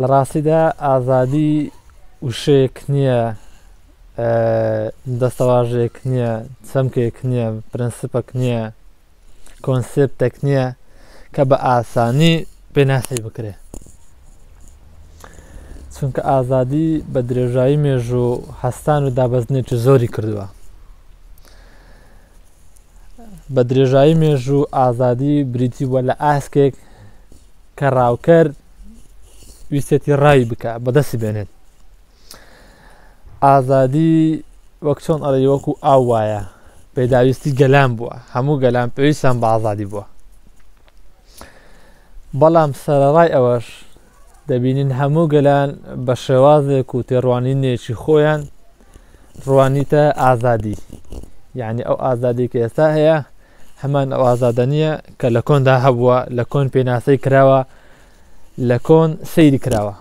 لە ڕاستیدا ئازادی وشەیەک نییە، دەستەواژەیەک نییە، چەمکێک نییە، پرەنسپەک نییە، کۆنسێپتێک نییە کە بە ئاسانی پێناسی بکرێ. چونکە ئازادی بە درێژایی مێژوو هەستان و دابەزنێکی زۆری کردووە بە درێژایی مێژوو ئازادی بریتی بووە لە ئاسکێک کە ڕاوکەر ویستێتی ڕای بکە بەدەستی بێنێت ئازادی وەک چۆن ئەڵێ وەکو ئاو وایە پێداویستی گەلان بووە هەموو گەلان پێویستان بە ئازادی بووە بەڵام سەرڕای ئەوەش دەبینین هەموو گەلان بە شێوازێک و تێڕوانینێکی خۆیان ڕوانیتە ئازادی یعنی ئەو ئازادی کە ئێستا هەیە هەمان ئەو ئازادە نییە کە لە کۆندا هەبووە لە کۆن پێناسەی کراوە لە کۆن سەیری کراوە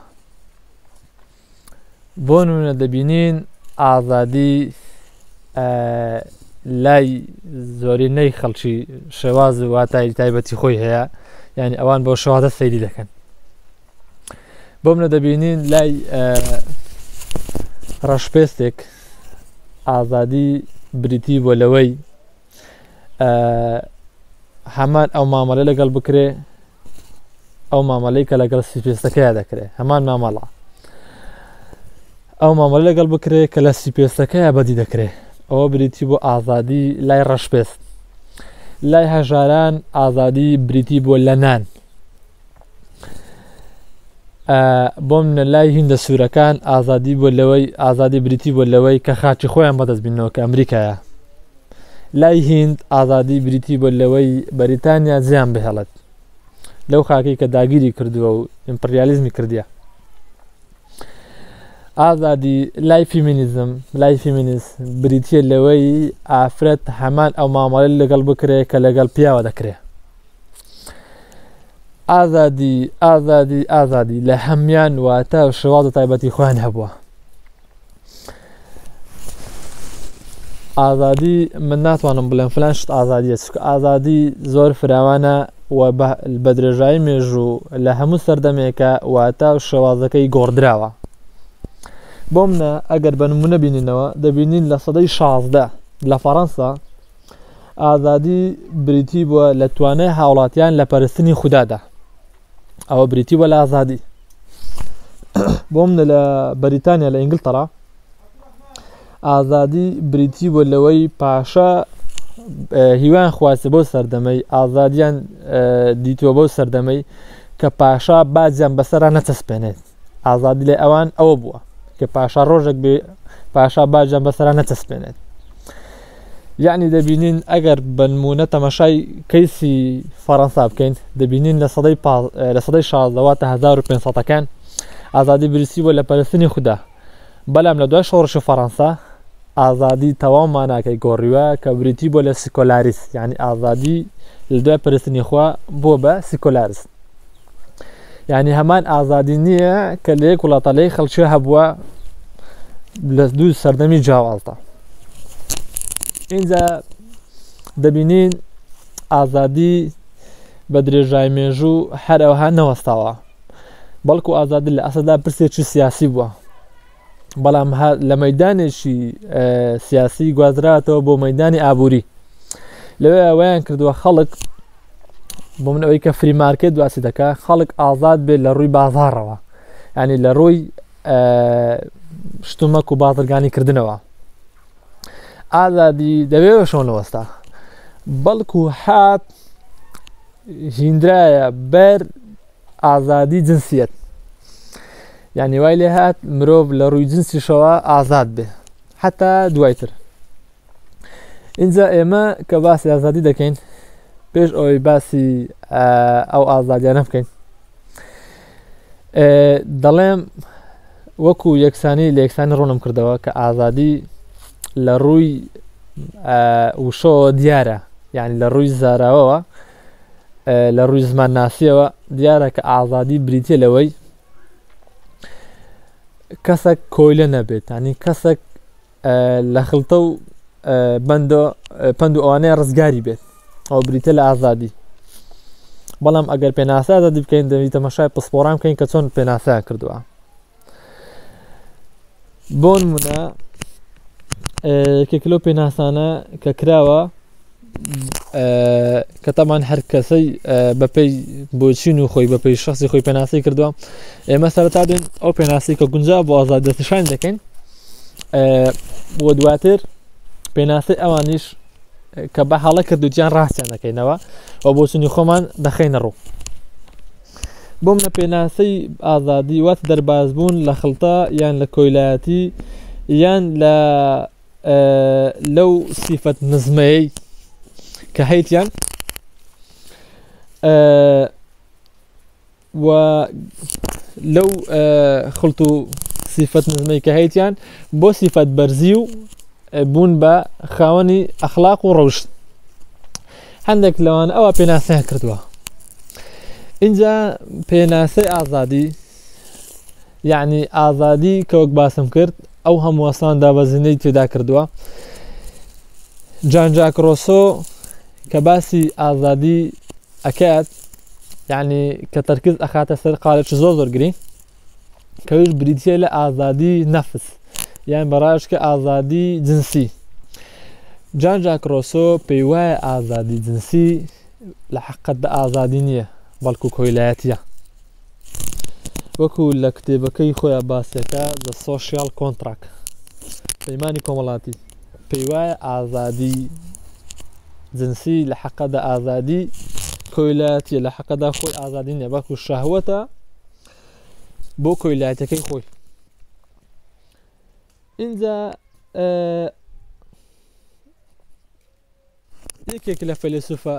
بۆ نونە دەبینین ئازادی لای زۆرینەی خەڵکی شێواز و واتای تایبەتی خۆی هەیە یعنی ئەوان بۆ شوازە سەیری دەکەن بۆ منە دەبینین لای ڕەشپێستێک ئازادی بریتی بۆ لەوەی هەمان ئەو مامەلە لەگەڵ بکرێ ئەو مامەلەی کە لەگەڵ سیپێستەکەی دەکرێت هەمان مامەڵە ئەو مامەلە لەگەڵ بکرێ کە لە سیپێستەکەی بەدی دەکرێت ئەوە بریتی بۆ ئازادی لای ڕەشپێست لای هەژاران ئازادی بریتی بۆ لە نان بۆم نە لای هیندە سوورەکان ئازادی بۆ لەوەی ئازادی بریتی بۆ لەوەی کە خاچی خۆیان بەدەست بینەوە کە ئەمریکایە لای هند ئازادی بریتی بۆ لەوەی بەریتانیا زیان بهێڵێت لەو خاکی کە داگیری کردووە و ئیمپریالیزمی کردە ئازادی لای فیمینیزم لای فیمینیست بریتە لەوەی ئافرەت هەمان ئەو مامەڵی لەگەڵ بکرێت کە لەگەڵ پیاوە دەکرێت ئازادی ئازادی ئازادی لە هەمان واتە شێواز و تایبەتی خۆیان هەبووە ئازادی من ناتوانم بڵێم فلان شت ئازادیە چکە ئازادی زۆر فراوانە و بە درێژایی مێژوو لە هەموو سەردەمێکە واتە و شێوازەکەی گۆڕدراوە بۆ منە ئەگەر بە نمونە بینینەوە دەبینین لە سەدەی شازدە لە فەڕەنسا ئازادی بریتی بووە لە توانای هاوڵاتیان لە پەرستنی خوددادا ئەوە بریتی بە لە ئازادی بۆ منە لە بەریتانیا لە ئینگلتەرا ئازادی بریتی بۆ لەوەی پاشا هیوان خواستی بۆ سەردەمەی ئازادیان دیتوە بۆ سەردەمەی کە پاشا باجیان بەسەرا نەچەسپێنێت ئازادی لە ئەوان ئەوە بووە کە پاشا ڕۆژێک بێ پاشا باجان بەسەرا نەچەسپێنێت یعنی دەبینین ئەگەر بنمونە تەمەشای کەیسی فەڕەنسا بکەین دەبینین لە سەدەی لە سەدەی شازدەوە تا 1500ەکان ئازادی بریسی بۆ لە پەرستنی خوددا بەلام لە دوای شۆڕشی فەڕەنسا ئازادی تەواو ماناکەی گۆڕیوە کە بریتی بۆ لە سیکۆلاریس یعنی ئازادی لە دوای پرستنی خوا بۆ بە سیکۆلارس یعنی هەمان ئازادی نییە کە لە یەک وڵاتە لەی خەڵکی هەبووە لە دوو سەردەمی جیاوازدا اینجا دەبینین ئازادی بە درێژای مێژوو هەر ئەوها نەوەستاوە بەڵکو ئازادی لە ئەسەدا پرسێکی سیاسی بووە بەڵام لە مەدانێکی سیاسی گوازراتەوە بۆ مەدانی ئابووری لەوێ ئەویان کردووە خەڵک بۆ من ئەوەی کە فری مارکێت دواسی دەکە خەڵک ئازاد بێت لە ڕووی بازارەوە ینی لە ڕووی شتومەک و بازرگانی کردنەوە ئازادی دەوێ شۆنەوەستا بەڵکو حات هیندرایە بەر ئازادی جنسیت یعنی وای لێ هاات مرۆڤ لە ڕووی جنسیشەوە ئازاد بێ حتا دوایتر اینجا ئێمە کە باسی ئازادی دەکەین پێش ئەوەی باسی ئەو ئازادیانە بکەین دەڵێم وەکو یەکسانی لە یەکسانی ڕوونم کردەوە کە ئازادی لە ڕووی وشەوە دیارە یعنی لە ڕووی زاراوەوە لە ڕووی زمان ناسیەوە دیارە کە ئازادی بریتە لەوەی کەسێک کۆیلە نەبێت ینی کەسێک لە خلتە و بەند پند و ئەوانەیە ڕزگاری بێت ئەو بریتە لە ئازادی بەڵام ئەگەر پێناسە ئازادی بکەین دەوی تەمەشای پسپۆران بکەین کە چۆن پێناسەیان کردووە بۆن منە کەکلۆ پێناسانە کە کراوە کە تامان هەر کەسەی بەپی بۆچین و خۆی بەپی شخصی خۆی پێناسی کردووە ئێمە سەرتا دێن ئەو پێناسی کە گونجا بۆ ئازاد دەستشان دەکەین بۆ دواتر پێناسی ئەوانیش کە بە هەڵە کردوتیان ڕاستیان دەکەینەوە و بۆچنی خۆمان دەخینە ڕوو بۆم لە پێناسەی ئازادی وات دەربازبوون لە خڵتا یان لە کۆیلایەتی یان لە لەو سیفەت نزمەیەی کە هەیتیان و لەو خلت و سیفەت نزمەی کە هەیتیان بۆ سیفەت بەرزی و بوون بە خاوەنی ئەخلاق و ڕەوشت هەندێک لەوان ئەوە پێناسەیان کردووە اینجا پێناسەی ئازادی یعنی ئازادی کەوەک باسم کرد ئەو هەمووەسان دابەزینەی تێدا کردووە جانجاکرۆسۆ کە باسی ئازادی ئەکات یعنی کە تەرکز ئەخاتە سەر قالێکی زۆر زۆر گرنگ کەوش بریتە لە ئازادی نەفس یان بەڕاشکە ئازادی جنسی جان جاکرۆسۆ پێی وایە ئازادی جنسی لە حقت دە ئازادی نییە بەڵکو کۆیلایەتە وەکو لە کتێبەکەی خۆیان باسەکە لە سۆسیال کۆنتراک پەیمانانی کۆمەڵاتی پێی وایە ئازادی جنسی لە حەقەدا ئازادی کۆیلاتیە لە حەقەدا خۆی ئازادی نیە بەڵکو شەهوەتە بۆ کۆیلاتەکەی خۆی اینجا یەکێک لە فەلسوفە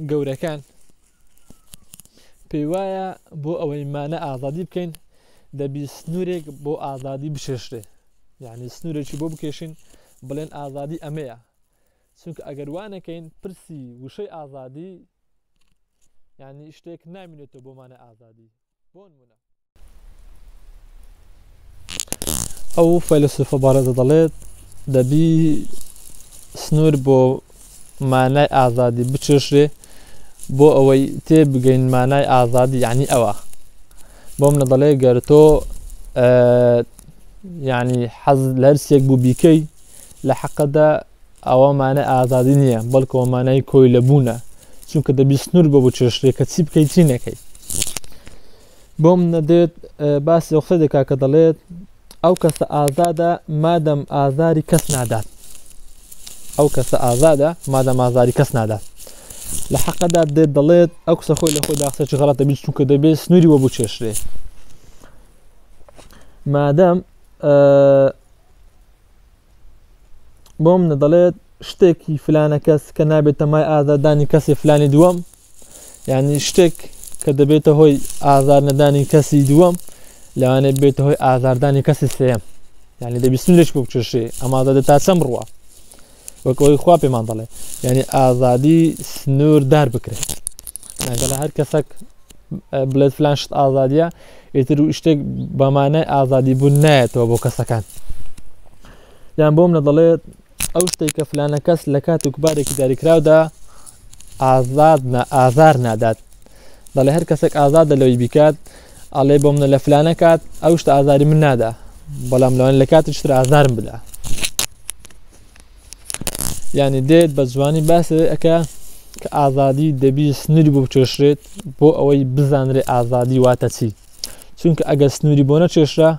گەورەکان پێی وایە بۆ ئەوەی مانە ئازادی بکەین دەبی سنوورێک بۆ ئازادی بشێشرێ یعنی سنوورێکی بۆ بکێشین بڵێن ئازادی ئەمەیە چونکە ئەگەر وانەکەین پرسی وشەی ئازادی یعنی شتێک نامینێتەوە بۆمانە ئازادی بۆن منە ئەو فەیلسوفە بارەزە دەڵێت دەبی سنوور بۆ مانای ئازادی بچێشرێ بۆ ئەوەی تێ بگەین مانای ئازادی یعنی ئەوە بۆ منە دەڵێ گەر تۆ یعنی حەز لەرسێک بوو بیکەی لە حەقەدا ئەوە مانای ئازادی نییە بەڵکەوە مانای کۆی لەبوونە چونکە دەبی سنوور بۆ بچێ شتێکە چی بکەیت چی نەکەیت بۆم نەدێت باسی ئەو قسە دەکا کە دەڵێت ئەو کەسە ئازادە مادەم ئازاری کەس نادات ئەو کەسە ئازادە مادەم ئازاری کەس نادات لە حەقەدا دێت دەڵێت ئەو قسە خۆی لە خۆی داخسە چ غڵەتە بیت چونکە دەبێت سنووری وە بچێشرێ مادەم بۆ منە دەڵێت شتێکی فلانە کەس کە نابێتە مای ئازادانی کەسی فلانی دووەم یعنی شتێک کە دەبێتە هۆی ئازار نەدانی کەسی دووەم لەوانێ بێتە هۆی ئازاردانی کەسی سێم یعنی دەبیستن لەش بکوشێ ئەمادە دە تا چەم ڕوە وەکەوەی خوا پێمان دەڵێ یعنی ئازادی سنوور دار بکرێت لەگەڵ هەر کەسەک بڵێت فلان شت ئازادە ئیتر و شتێک بەمانای ئازادی بوون نایەتەوە بۆ کەسەکان یان بۆ منە دەڵێت ئەو شتێک کە فلانە کەس لە کات و کوبارێکی داریکراودا ئازاد ئازار نادات دەڵێ هەر کەسێک ئازادە لەوەی بیکات ئەڵێ بۆ منە لە فلانە کات ئەو شتە ئازاری من نادا بەڵام لەوان لە کاتی شتر ئازارم بدا یعنی دێت بە جوانی باس لەوەی ئەکا کە ئازادی دەبی سنووری بۆ بچێشرێت بۆ ئەوەی بزانرێ ئازادی واتە چی چونکە ئەگەر سنووری بۆ نەچێشرا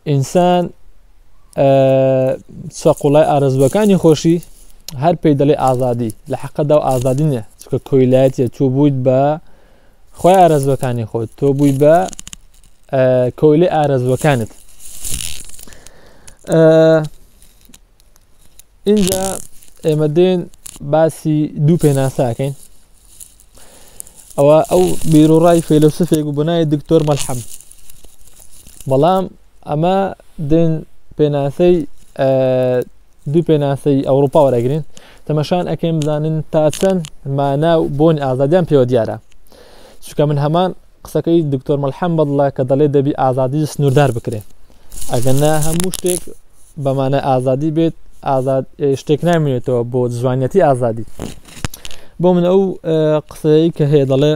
ئینسان سەقلای ئارزوەکانی خۆشی هەر پێی دەڵێ ئازادی لە حەقەدا و ئازادی نیە چکە کۆیلایەتە تۆ بوویت بە خۆی ئارزوەکانی خۆت تۆ بووی بە کۆیلی ئارزوەکانت اینجا ئێمە دێن باسی دوو پێناساکەین ئەوە ئەو بیرۆڕای فێلسفێک و بنای دکتۆر مەلحەم بەڵام ئەمە دێن پێناسەی دوو پێناسەی ئەوروپا وەرەگرین تەمەشان ئەکەم بزانن تا چەند مانا و بۆن ئازادیان پێوە دیارە چکە من هەمان قسەکەی دکتۆر مەلحەم بەدڵە کە دەڵێ دەبی ئازادی سنووردار بکرێت ئەگەنا هەموو شتێک بەمانە ئازادی بێت ئازاد شتێک نامێنێتەوە بۆ جوانەتی ئازادی بۆ من ئەو قسەیە کە هەیە دەڵێ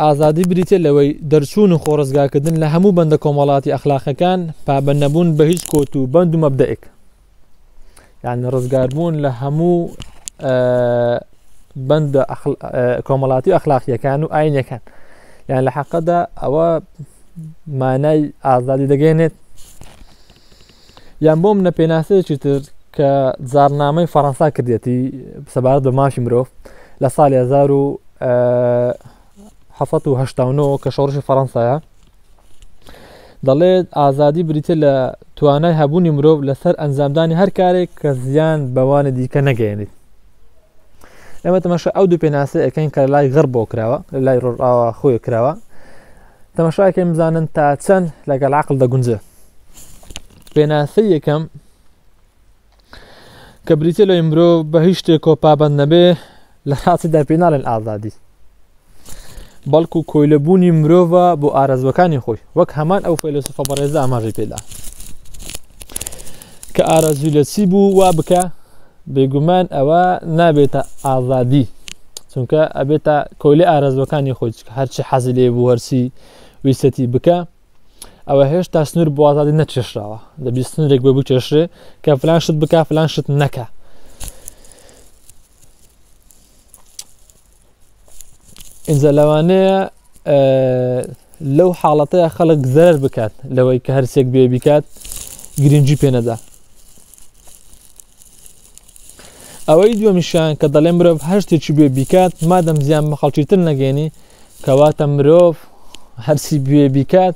ئازادی بریتە لەوەی دەرچوون و خۆڕزگاکردن لە هەموو بەندە کۆمەڵاتی ئەخلاقەکان پابەنەبوون بە هیچ کۆت و بەند و مەبدەئێک یعنی ڕزگاربوون لە هەموو بەندە کۆمەڵاتی ئەخلاقیەکان و ئاینەکان یان لە حەقەدا ئەوە مانای ئازادی دەگەێنێت یان بۆم نە پێناسەیەکی تر کە زارنامەی فەڕەنسا کردێتی سەبارەت بە ماشی مرۆڤ لە ساڵی 1970 کە شۆڕشی فەڕەنسایە دەڵێت ئازادی بریتە لە توانای هەبوونی مرۆڤ لەسەر ئەنجامدانی هەر کارێک کە زیان بەوانی دیکە نەگەێنیت ئەمە تەمەشە ئەو دوو پێناسە ئەەکەین کە لای غڕ بۆ کراوە لە لای ڕۆژاوە خۆی کراوە تەمەشاکەم بزانن تا چەند لەگەڵ عقل دەگونجێ پێناسە یەکەم کە بریتە لە مرۆ بە هیچ شتێکۆ پابند نەبێ لە ڕاستیدا پێ ناڵێن ئازادی بەڵکو کۆیلەبوونی مرۆڤە بۆ ئارەزوەکانی خۆی وەک هەمان ئەو فەیلسوفە بەڕێزە ئاماژەی پێدا کە ئارەزوی لە چی بوو وا بکە بێگومان ئەوە نابێتە ئازادی چونکە ئەبێتە کۆلی ئارەزوەکانی خۆی هەرچی حەزی لێ بوو هەرسی ویسەتی بکە ئەوە هێشتا سنوور بۆ ئازادی نەچێشراوە دەبی سنوورێک بۆ بچێشرێ کە فلان شت بک فلان شت نەکە ئینجا لەوانەیە لەو حاڵەتەیە خەڵک زەرەر بکات لەوەی کە هەرسێک بێ بیکات گرنگجی پێنەدا ئەوەی دووەمیشیان کە دەڵێ مرۆڤ هەر شتێکی بێ بیکات مادەم زیان بە خەڵکی تر نەگەێنی کەواتە مرۆڤ هەرسی بێ بیکات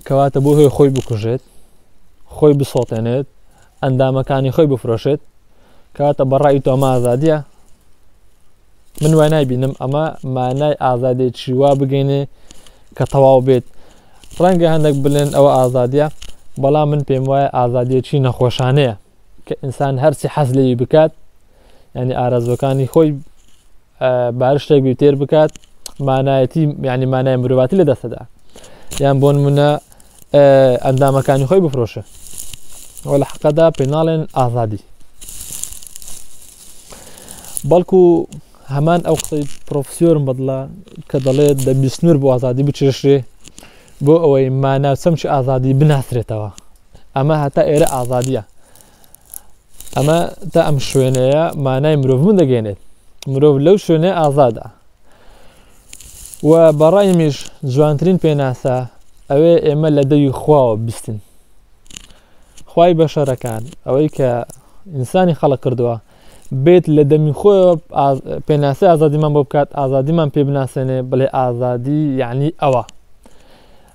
کەواتە بۆ هۆی خۆی بکوژێت خۆی بسۆتێنێت ئەندامەکانی خۆی بفرۆشێت کەواتە بەڕای تۆمازادە من وای نایبینم ئەمە مانای ئازادێکی وا بگەینێ کە تەواو بێت ڕەنگە هەندێک بلێن ئەوە ئازادە بەڵام من پێم وایە ئازادیەکی نەخۆشانەیە کە ئینسان هەرچی حەز لێوی بکات ینی ئارەزوەکانی خۆی بارشتێک بی تێر بکات مانایەتی ینی مانای مرۆڤاتی لە دەستەدا یان بۆن منە ئەندامەکانی خۆی بفرۆشە ئەو لە حقەدا پێناڵێن ئازادی بەڵکو هەمان ئەو قسەی پرۆفسیۆرم بەدڵە کە دەڵێت دە بیستنور بۆ ئازادی بچێشرێ بۆ ئەوەی مانا چەمچ ئازادی بناسرێتەوە ئەمە هەتا ئێرە ئازادیە ئەمە تا ئەم شوێنەیە مانای مرۆڤ من دەگەێنێت مرۆڤ لەو شوێنە ئازادە و بەڕای میش جوانترین پێناسە ئەوێ ئێمە لە دەوی خواوە بستین خوای بەشەرەکان ئەوەی کە ئینسانی خەڵق کردووە بێت لە دەمی خۆی پێناسی ئازادیمان بۆ بکات ئازادیمان پێ بناسێنێ بڵێ ئازادی یعنی ئەوە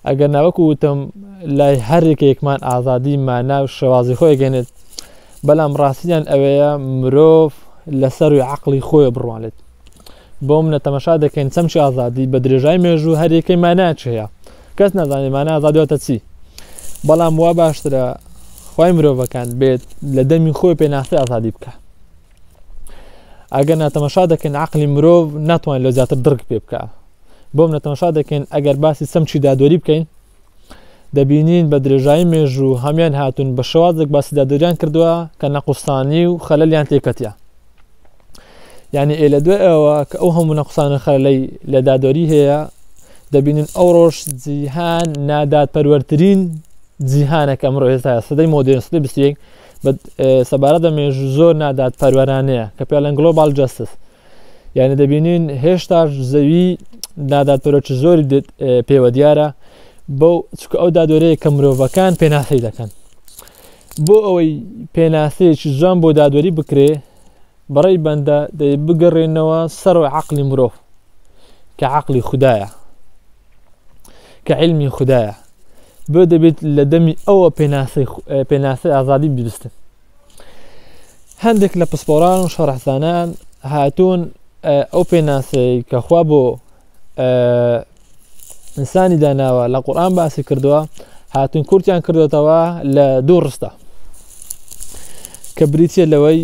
ئەگەر ناوەکو وتم لای هەرێکێکمان ئازادی مانا و شێوازی خۆی گەێنێت بەڵام ڕاستیان ئەوەیە مرۆڤ لەسەر و عقلی خۆی بڕوانێت بۆ منە تەمەشا دەکەین چەمچی ئازادی بە درێژای مێژوو هەرێکەی ماناچەیە کەس نازانێت مانای ئازادی واتە چی بەڵام وا باشترە خی مرۆڤەکان بێت لە دەمی خۆی پێناسی ئازادی بکە ئەگەر ناتەمەشا دەکەین عقلی مرۆڤ ناتوان لە زیاتر دڕک پێ بکە بۆم نەتەمەشا دەکەین ئەگەر باسی سەمچی دادوەری بکەین دەبینین بە درێژایی مێژوو هەمان هاتون بە شوازێک باسی دادوریان کردووە کە نەقوستانی و خەلەلیان تێکەتە یعنی ئێ لە دوای ئەوە کە ئەو هەموو نەقسانە خەرلەی لە دادۆری هەیە دەبینن ئەو ڕۆژ جیهان نادات پەروەرترین جیهانێک ئەمڕۆ ئێستا سەدەی مۆدرن سدەی بسیەک سەبارەت بە مێژ زۆر نادات پەروەرانەیە کە پێڵەن گلۆبال جستس یعنی دەبینین هێشتا زەوی نادات پەرۆچ زۆری پێوە دیارە بەو چکە ئەو دادۆرەیە کە مرۆڤەکان پێناسی دەکەن بۆ ئەوەی پێناسەیەکی جوان بۆ دادوەری بکرێ بەڕێی بەندە دەی بگەڕێنەوە سەرۆ عقلی مرۆڤ کە عقلی خدایە کە علمی خدایە بۆ دەبێت لە دەمی ئەوە پێناسەی ئازادی ببستن هەندێک لە پسپۆران و شەڕحزانان هاتوون ئەو پێناسەی کەخوا بۆ ئینسانی داناوە لە قورآان باسی کردووە هاتن کورتیان کردوێتەوە لە دوو ڕستە کە بریتە لەوەی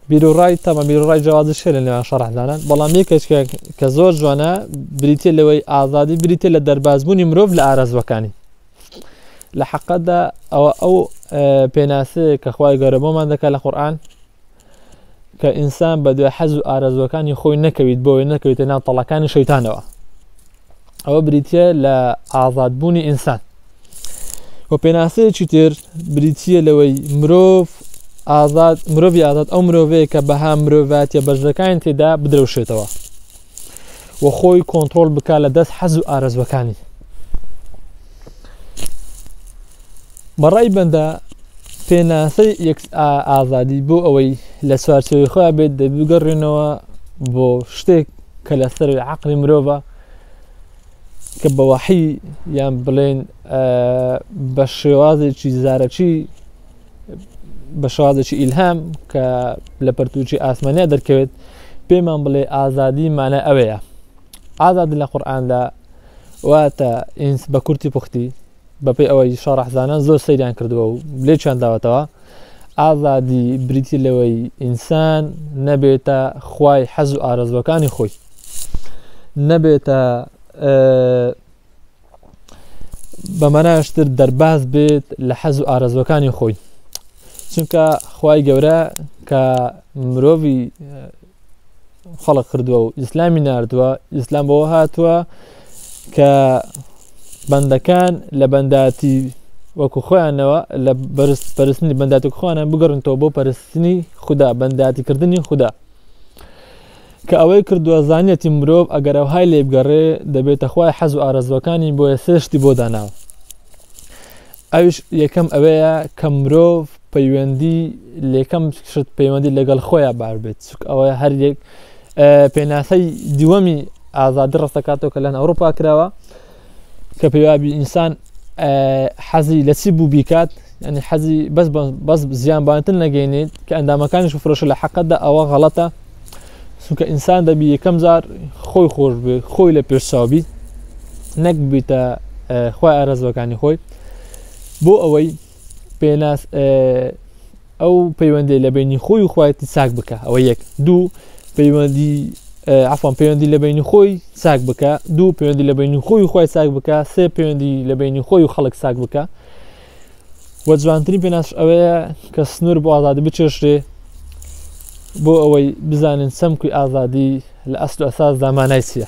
بیرڕای تەمە بیرڕای جیازی شێ لە نێوان شەڕحدانان بەڵام یەکێک کە زۆر جوانە بریتە لەوەی ئازادی بریتە لە دەربازبوونی مرۆڤ لە ئارەزوەکانی لە حەقەتدا ئەوە ئەو پێناسەیە کە خخوای گەورە بۆمان دەکات لە قورآان کە ئینسان بە دوای حەز و ئارەزوەکانی خۆی نەکەویت بۆی نەکەویتە ناو تەڵەکانی شەیتانەوە ئەوە بریتە لە ئازادبوونی ئینسان و پێناسەیەکی تر بریتە لەوەی مرۆڤ ئازاد مرۆڤ ئازاد ئەو مرۆڤەیە کە بەها مرۆڤاتە بەرزەکانی تێدا بدرەوشێتەوە و خۆی کۆنتترۆل بک لە دەست حەز و ئارەزوەکانی بەڕای بەندە پێناسەی یەکس ئازادی بۆ ئەوەی لە چوارچەوەی خۆیان بێت دەبگەڕێنەوە بۆ شتێک کە لە سەروی عقلی مرۆڤە کە بە وەحی یان بڵێن بە شێوازێکی زارەکی بە شوازێکی ئیلهام کە لە پەرتوچی ئاسمانیا دەرکەوێت پێمان بڵێ ئازادی مانە ئەوەیە ئازادن لە قورآاندا واتە ئینس بە کورتی پوختی بەپی ئەوەی شارەحزانان زۆر سەیریان کردووە و لێکیان داوەتەوە ئازادی بریتی لەوەی ئینسان نەبێتە خوای حەز و ئارەزوەکانی خۆی نەبێتە بەمەناشتر دەرباز بێت لە حەز و ئارەزوەکانی خۆی چونکە خی گەورە کە مرۆڤی خەڵق کردووە و ئیسلامی نردووە ئیسلام بەوە هاتووە کە بەندەکان لە بەنداتی وەکو خۆیانەوە لە بەرز پەرستنی بەنداتی خۆیانە بگەڕنتەوە بۆ پەرستنی خوددا بەنداتیکردنی خوددا کە ئەوەی کردووە زانیەتی مرۆڤ ئەگەر ئەوهای لێبگەڕێ دەبێتە خوای حەز و ئارەزوەکانی بۆیە سێ شتی بۆ داناوە ئەوش یەکەم ئەوەیە کە مرۆڤ پەیوەندی لێکەم شت پەیوەندی لەگەڵ خۆیان بار بێت چک ئەوەیە هەر یەک پێناسەی دووەمی ئازادی ڕستەکاتەوە کە لەن ئەوروپا کراوە کە پێوابی ئینسان حەزی لە چی بوو بیکات ئەنی حەزی بەس بەس زیان بانتن نەگەینێت کە ئەندامەکانیش فرۆشە لە حەقەتدا ئەوە غەڵەتە سوکە ئینسان دەبی یەکەم جار خۆی خۆش بێ خۆی لە پێشچاوبی نەک بیتە خۆی ئارەزوەکانی خۆی بۆ ئەوەی پێناس ئەو پەیوەندی لە بینی خۆی و خۆیتی ساک بکە ئەوە یەک دوو پەیوەندی عفان پەیوەندی لە بینی خۆی ساک بکە دوو پەیوەندی لە بینی خۆی خۆی ساک بکە سێ پەیوەندی لە بینی خۆی و خەڵک ساک بکە و جوانترین پێناس ئەوەیە کە سنوور بۆ ئازادی بچێشرێ بۆ ئەوەی بزانن سەمکوی ئازادی لە ئەسل ئەساس دامانای چیە